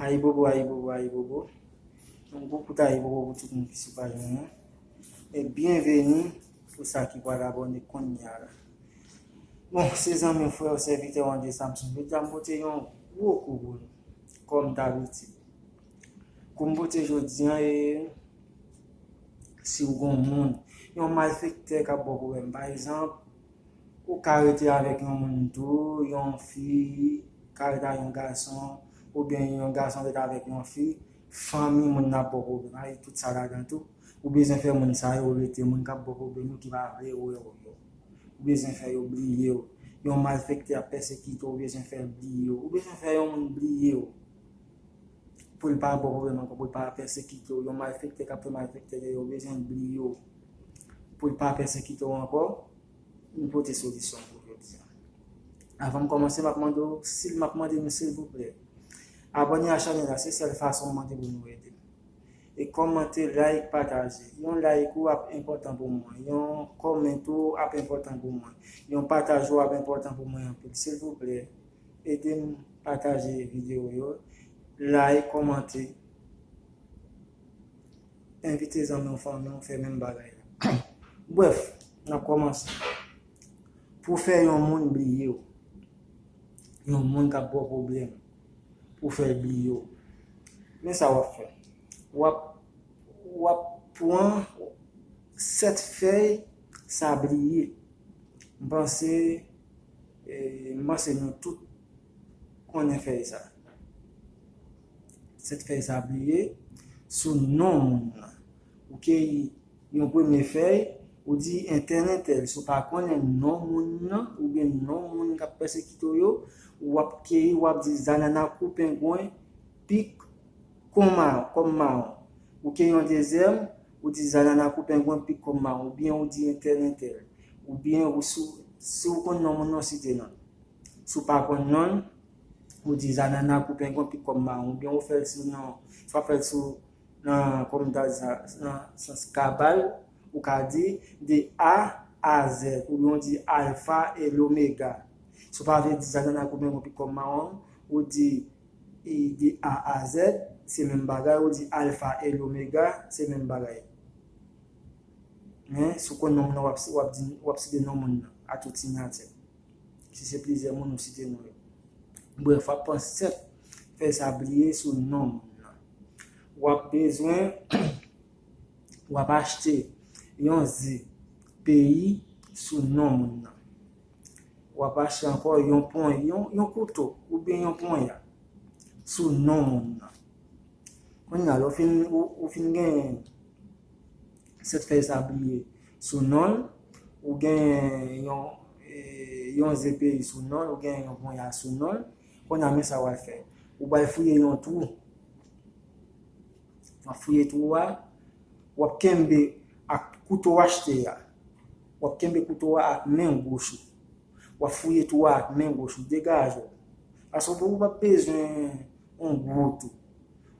Ayibobo ayibobo ayibobo yon gwo kout ayibobo pou tout moun ki sou paj mwen an e byenveni pou sa ki pral abòne konnya la bon se zanmi w frè w sèvitè w André Samson jodi a m pote yon gwo kou pou nou kòm dabitid kou m pote jodi an e si w gon moun yon malfektè k ap bò pwoblèm pa egzanp Ou ka rete avèk yon moun tou, yon fi ka rete avèk yon gason, oubyen yon gason rete avèk yon fi, fanmi moun nan ap ba w pwoblèm, a li tout sa ladan tou. Ou bezwen fè moun sa yo rete, moun k ap ba w pwoblèm yo ki pa vle wè w yo. Ou bezwen fè yo bliye w. Yon malfèktè ap pèsekite w, ou bezwen fè l bliye w. Ou bezwen fè yon moun bliye w. pou l pa ba w pwoblèm ankò, pou l pa pèsekite w, yon malfektè k ap fè malfektè de yo bezwen bliye w pou l pa pèsekite w ankò, m pote solisyon pou jodi a. Avan m kòmanse m ap mande w, m ap mande nou silvouplè, abòne a chanèl la, se sèl fason m mande pou nou ede m. E kòmante, like, pataje. Yon like ou ap enpòtan pou mwen, yon comment ou ap enpòtan pou mwen, yon pataj ou ap enpòtan pou mwen anpil. Silvouplè. Edem pataje video yo like komante envite zanmiw fanmiw fè menm bagay la bref nap komanse pou fè yon moun bliyew yon moun kap baw pwoblèm pou fèl bliyew men sa wap fè wap wap pwan 7 fèy sabliye mpanse M panse nou tout konnen fèy sa. Sèt fèy sa pliye sou non moun nan. Ou keyi yon premye fèy, ou di entèl entèl. Si w pa konnen non moun nan oubyen non moun k ap pèsekite w yo, w ap keyi, w ap di zanana kou pengwen, pik kon mawon. Ou keyi yon dezyèm, Ou di zanana kou pengwen pik kòm maron ou byen ou di entèl entèl ou byen ou sou si ou konn non moun non site nonl si ou pa konn nonl ou di zanana kou pengwen pik kòm maron ou byen ou fèl sou non si wap fèl sou nan kòm ta di sa nan sans kabal ou ka di de a a zèd ou byen ou di alfa e lomega si ou pa vle di zanana kou pengwen pik kòm maron ou di E de A a Z, se menm bagay, ou di Alfa e Lomega, se menm bagay. Men, si w konn non moun nan, w ap site non moun nan, a tout sinyati. Si se plizyè moun, ou site non yo. Brèf, w ap pran 7 fèy sa pliye sou non moun nan. W ap bezwen, w ap achte yon ze peyi sou non moun nan. W ap achte ankò yon pon, yon kouto oubyen yon ponya sou non moun nan. Kounye a, lè w fin, ou fin genyen 7 fèy sabliye sou non l, ou genyen yon, yon ze peyi sou non l, ou genyen yon ponya sou non l, kounye a men sa w al fè. Ou pral fouye yon twou. Nan fouye twou a, w ap kenbe ak kouto w achte a, W ap kenbe kouto a ak men goch ou. W ap fouye twou a ak men goch ou. Degaje w! Paske ou pa p bezwen yon gwo tou.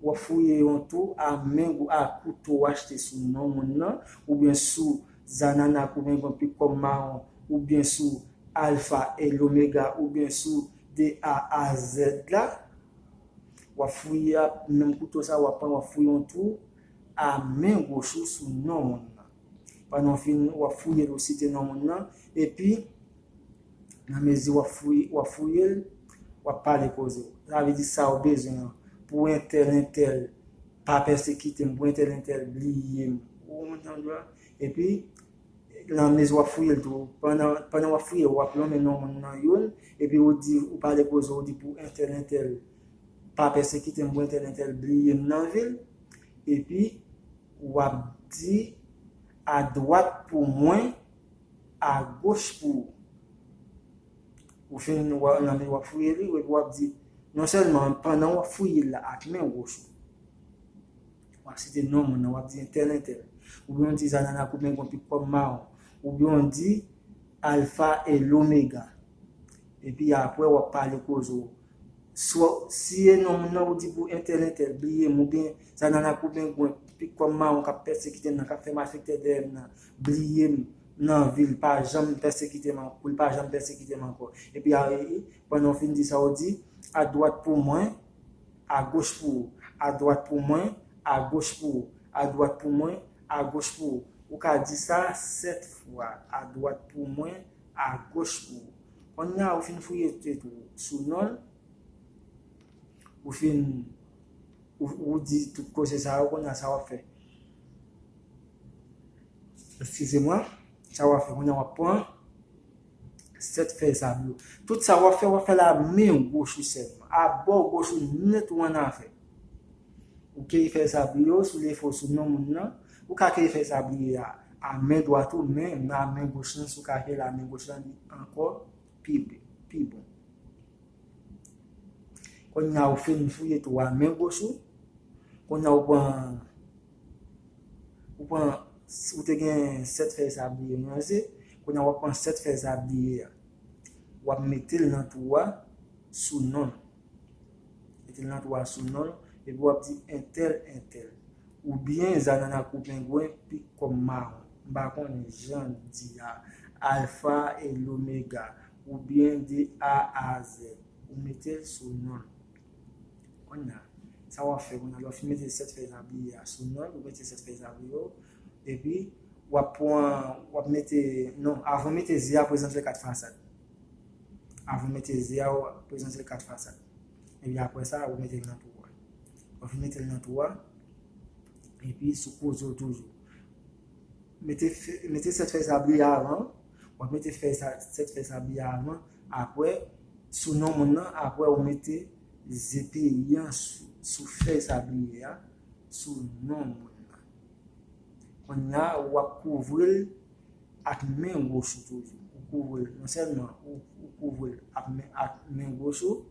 W ap fouye yon twou a men gou a kouto w achte sou non moun nan, oubyen sou Zananak oubyen yon pikom mawon, oubyen sou Alfa e Lomega oubyen sou de A a Zèd la. W ap fouye ak menm kouto sa a w ap pran w ap fouye yon twou a men goch ou sou non moun nan. Pandan w fin, w ap fouye l ou site non moun nan, epi nan mezi w ap fouye, w ap fouye l, w ap pale koze w. Sa vle di sa ou bezwen an, pou entèl entèl pa pèsekite m, pou entèl entèl bliye m. Ou konprann sa m di w la? Epi, nan mezi w ap fouye l tou, pandan, pandan w ap fouye l, w ap lonmen non moun nan youn, epi ou di, ou pale koze w, ou di pou entèl entèl pa pèsekite m, pou entèl entèl bliye m nan vil, epi. Wap di a dwat pou mwen a goch pou ou. Ou fin wè nan li wap fouye li ou epi wap di non sèlman pandan wap fouye la ak men goch ou wap site non moun nan wap di entèl entèl oubyen w di zanana koupe yon pik pòm mawon oubyen w di alfa e lomega epi aprè wap pale koze w Swa w siye non moun nan ou di pou entèl entèl bliye m oubyen sa nan lakou bengwen pik kòm mawon k ap pèsekite m nan k ap fè malfektè dèyè m nan bliye m nan vi l pa janm pèsekite m pou l pa janm pèsekite m ankò epi a pandan w fin di sa ou di adwat pou mwen agoch pou ou adwat pou mwen agoch pou ou adwat pou mwen agoch pou ou ou ka di sa sèt fwa adwat pou mwen a goch pou ou. Konnya ou fin fouye tet ou sou non l, ou fin ou di tout koze sa yo konnya sa wap fè? Eskize mwen, sa wap fè konnya wap pran 7 fèy sab yo. Tout sa wap fè wap fè l a men goch ou selman, a bò goch ou nèt ou annafè. Ou ke fè sa pou yo, sou lefo, sou non moun nan. Ou ka ke fè sa pou li a, a men dwat ou, men, nan a men goch lan, si ou ka fè l a men goch lan, li ankò pi pi bon. Kounye a ou fin fouye tou a men goch ou, kounye a ou pran, ou pran, si ou te gen 7 fèy sabliye nou an se, kounye a ou ap pran 7 fèy sabliye a, ou ap mete l nan twou a, sou non l. Epi nan twa sou non l, epi w ap di entèl entèl. Oubyen zanana kou pengwen pik kòm mawon. M pa konnen jan l di a. Alfa e lomega. Oubyen de A a zèd. Ou mete l sou non l. Kounya, sa w ap fè kounya, lè w fin mete sèt fèy labriye a sou non l, ou mete sèt fèy labriye yo, epi w ap pran, w ap mete, non, avan w mete ze a prezante l kat fasad. Avan mete ze a ou prezante l 4 fasad. Epi apre sa ou mete l nan twou a. Ou fin mete l nan twou a. Epi sou koze ou toujou. Mete 7 fèy sa bri avan. Ou mete 7 fèy sa bri avan. Apre sou non moun nan. Apre ou mete ze peyi an sou fèy sa bri a. Sou non moun nan. Konya ou ap kouvri l. ak men goch ou toujou ou kouvri l non sèlman ou ou kouvri l ak men ak men goch ou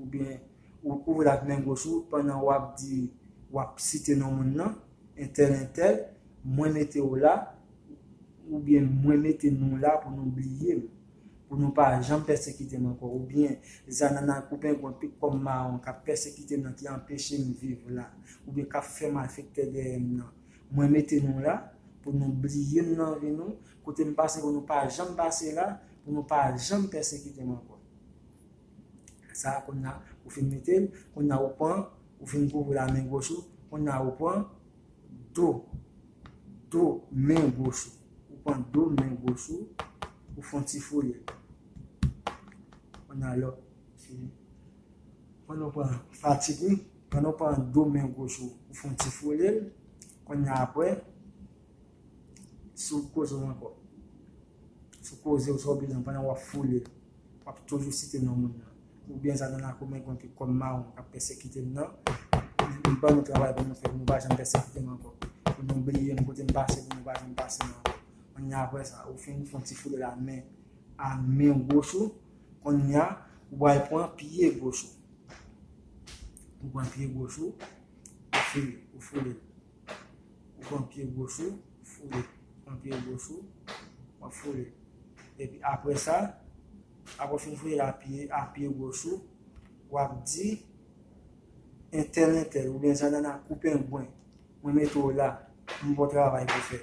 oubyen ou kouvri l ak men goch ou pandan w ap di w ap site non moun nan entèl entèl mwen mete w la oubyen mwen mete nou la pou nou bliye m pou nou pa janm pèsekite m ankò oubyen zanana ak ou pengwen pik kòm mawon k ap pèsekite m nan ki anpeche m viv la oubyen k ap fè malfektè dèyè m nan Mwen mete nou la, pou nou bliye m nan vi nou, kote m pase pou nou pa janm pase la, pou nou pa janm pèsekite m ankò. Sa a konnya ou fin mete l, konnya ou pran, ou fin kouvri l a men goch ou, konnya ou pran do, do men goch ou. Ou pran do men goch ou, ou fon ti fouye. Konnya lè w fin, konnya ou pran fatik ou. Pandan w pran do men goch ou, ou fè yon ti frole l. Kounya apre, sou koze w ankò. Sou koze w, sa w bezwen pandan w ap frole l. W ap toujou site non moun nan. Oubyen sa nan lakou men gwen ki kò m mawon k ap pèsekite m nan. M ban nou travay pou nou fè pou nou pa janm pèsekite m ankò. Pou nou bliye m kote m pase pou nou pa janm pase m ankò. Kounya apre sa, ou fin fè yon ti frole l a men goch ou. Konnya ou pral pran pye goch ou. Ou pran pye goch ou, ou foule, ou foule. Ou pran pye goch ou, ou foule. Ou pran pye goch ou, w ap foule. Epi apre sa, apre w fin foule l a pye goch ou, w ap di entèl entèl oubyen zanana kou pengwen mwen mete w la, m gen yon travay pou w fè.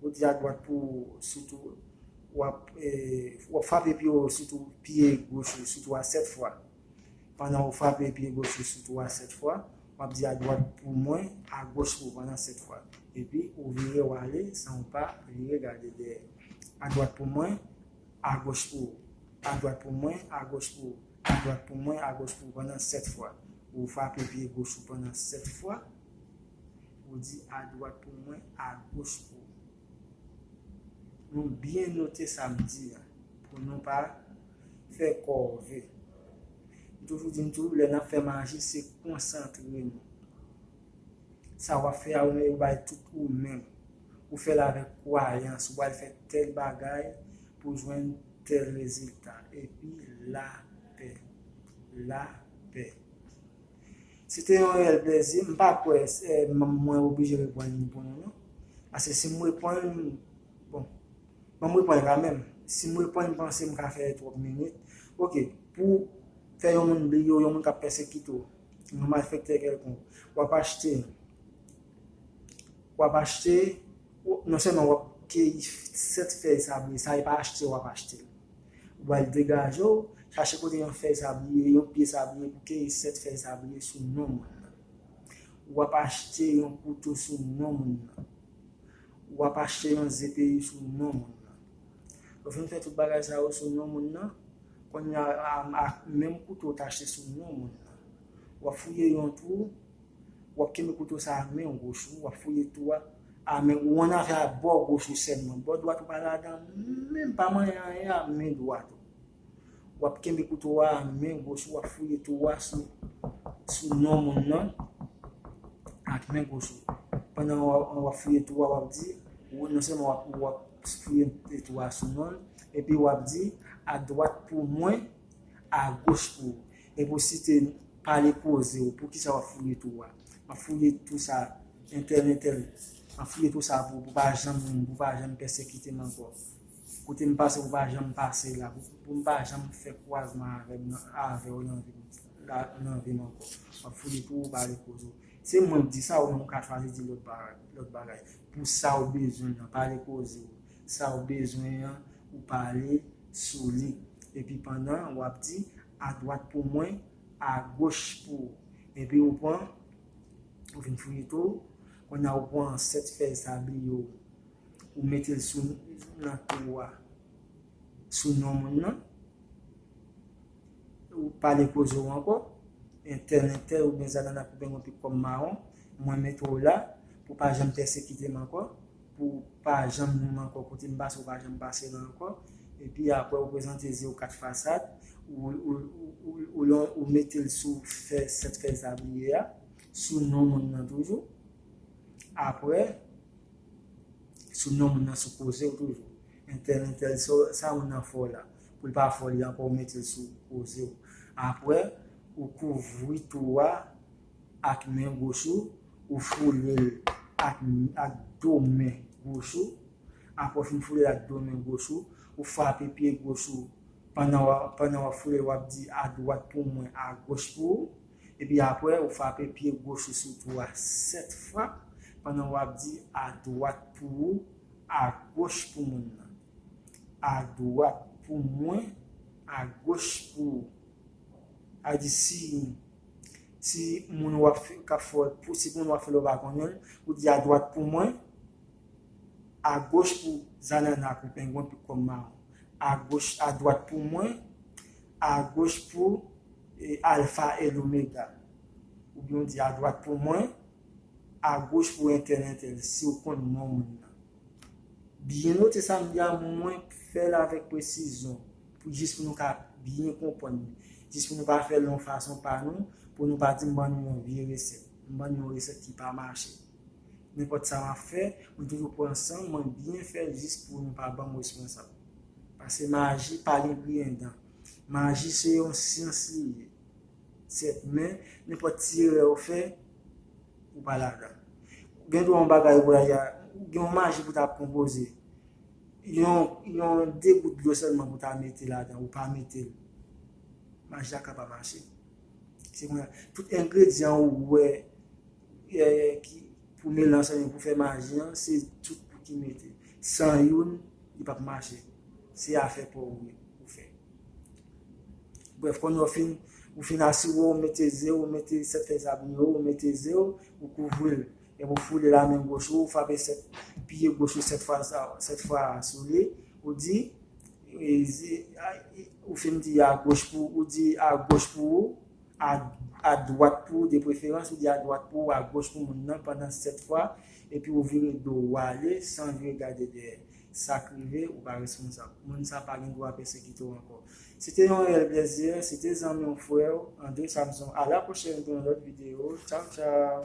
Ou di a dwat pou sitou wap frape pye ou sitou pye goch ou sitou a 7 fwa. Pandan ou frape pye goch ou sitou a 7 fwa, wap di a dwat pou mwen, a goch pou pandan 7 fwa. Epi ou vire ou ale san ou pa vire gade dèyè. A dwat pou mwen, a goch pou ou. A dwat pou mwen, a goch pou ou. A dwat pou mwen, a goch pou ou pandan 7 fwa. Ou frape pye goch ou pandan 7 fwa. Ou di adwat pou mwen agoch pou ou. Nou byen note sa m di a pou nou pa fè kòve. M toujou di m tou lè n ap fè maji se konsantre nou. Sa w ap fè a ou mèt bay tout ou menm. Ou fè l avèk kwayans ou al fè tèl bagay pou jwenn tèl rezilta. Epi lapè. Lapè. Se te yon reyèl plezi. M pa kwè mwen oblije reponn li pou nou non. Paske si m reponn, bon, bon m reponn kamenm. Si m reponn m panse m ka fè twòp minit. Ok, pou w fè yon moun bliye w, yon moun k ap pèsekite w, yon malfèktè kèlkonk, w ap achte, w ap achte, non sèlman w ap keyi 7 fèy sa vre, sa e pa achte w ap achte. Wèl degaje w, chache kote yon fèy sabliye, yon pye sabliye pou keyi 7 fèy sabliye sou non moun nan. W ap achte yon kouto sou non moun nan. W ap achte yon ze peri sou non moun nan. Lè w fin fè tout bagay sa yo sou non moun nan, kounya a ak menm kouto w te achte sou non moun nan, w ap fouye yon twou wap kenbe kouto sa ak menw goch ou wap fouye tou a a men ou an afè ak bò goch ou sèlman bò dwat ou pa ladan menm pa manyen anyen a men dwat ou wap kenbe kouto a ak men goch ou wap fouye tou a sou sou non moun nan ak men goch ou pandan wap fouye tou a wap di ou non sèlman wap ou wap fouye tou a sou nonl epi wap di a dwat pou mwen a goch pou ou E pou site pale koze ou poukisa wap fouye tou a wap fouye tou sa entèl entèl wap fouye tou sa pou pa janm pou pa janm pèsekitem ankò kote m pase pou pa janm pase la pou m pa janm fè kwazman avèm nan avèw nan vim la nan vim ankò wap fouye pou ou pale koze ou se mwen k di sa ou menm ou ka chwazi di lòt bagay lòt bagay pou sa ou bezwen an pale koze ou sa ou bezwen an ou pale sou li epi pandan wap di. Adwat pou mwen, agoch pou ou. Epi ou pran, ou vin fouye tou, kounye a ou pran 7 fèy sabli yo, ou mete l sou nan kou ou a, sou non moun nan, ou pale koze ou ankò, entèn entèn oubyen zanana koupe mwen pi kòm mawon, mwen mete ou la, pou pa janm pèsekite m ankò. Pou pa janm wè m ankò kote m pase ou pa janm pase la ankò epi aprè ou prezante zye ou 4 fasad ou mete l sou fè 7 fèy tabliye a sou non moun nan toujou aprè sou non moun nan sou koze ou toujou entèl entèl sa moun nan fè w la pou l pa fè w li ankò ou mete l sou koze ou aprè ou kouvri tou a ak men goch ou, ou foule l ak do men goch ou. Apre w fin foule l ak do men goch ou, ou frape pye goch ou pandan w ap foule l w ap di adwat pou mwen, agoch pou ou. Epi apre ou frape pye goch ou sou twou a 7 frap pandan w ap di adwat pou ou, agoch pou moun nan. Adwat pou mwen, agoch pou ou. Sa vle di si Si moun wap fè kap fè w, si moun wap fè la ou pa konnen l, ou di adwat pou mwen, agoch pou zanana kou pengwen pou kòm mawon. Agoch, adwat pou mwen, agoch pou alfa e lomega. Oubyen ou di adwat pou mwen, agoch pou entèl entèl, si ou konn non moun nan. Byen note sa m di a, mwen fè l avèk presizyon, pou jis pou nou ka byen konprann li, jis pou nou pa fè l yon fason pa nou, pou nou pa di m ban nou yon vye resèt, m ban nou yon resèt ki pa mache. Nenpòt sa m ap fè, mwen toujou pran san m, mwen byen fè l jis pou nou pa ban m responsab. Pase maji pa gen griyen dan. Maji se yon syans li ye. Sèt men, nenpòt ti erè ou fè, ou pa ladan. Gen dwa yon bagay ou pral ya, gen yon maji pou ta konpoze. Yon, yon de gout dlo sèlman pou ta mete ladan, ou pa mete l. Maji a ka pa mache. Se konnya, tout engredyan ou wè ki pou melanj sa yo pou fè maji an se tout pou ki mete san youn li pap mache se afè paw ou ye ou fè brèf konnye ou fin ou fin asire ou mete ze ou mete 7 fèy sabri yo ou mete ze ou ou kouvril epi ou foule la men goch ou ou frape 7 pye goch ou 7 fwa sa 7 fwa sou li ou di ou fin di a goch pou ou di a goch pou ou. adwat pou ou de preferans, ou di adwat pou ou, agoch pou moun nan pandan 7 fwa, epi ou vire do ou ale san vire gade dèyè. Sa k rive, ou pa responsab. Moun sa pa gen dwa pèsekite w ankò. Se te yon reyèl plezi, se te zanmi w, frè w, André Samson. A la pwochèn pou yon lòt videyo. Tchaw tchaw!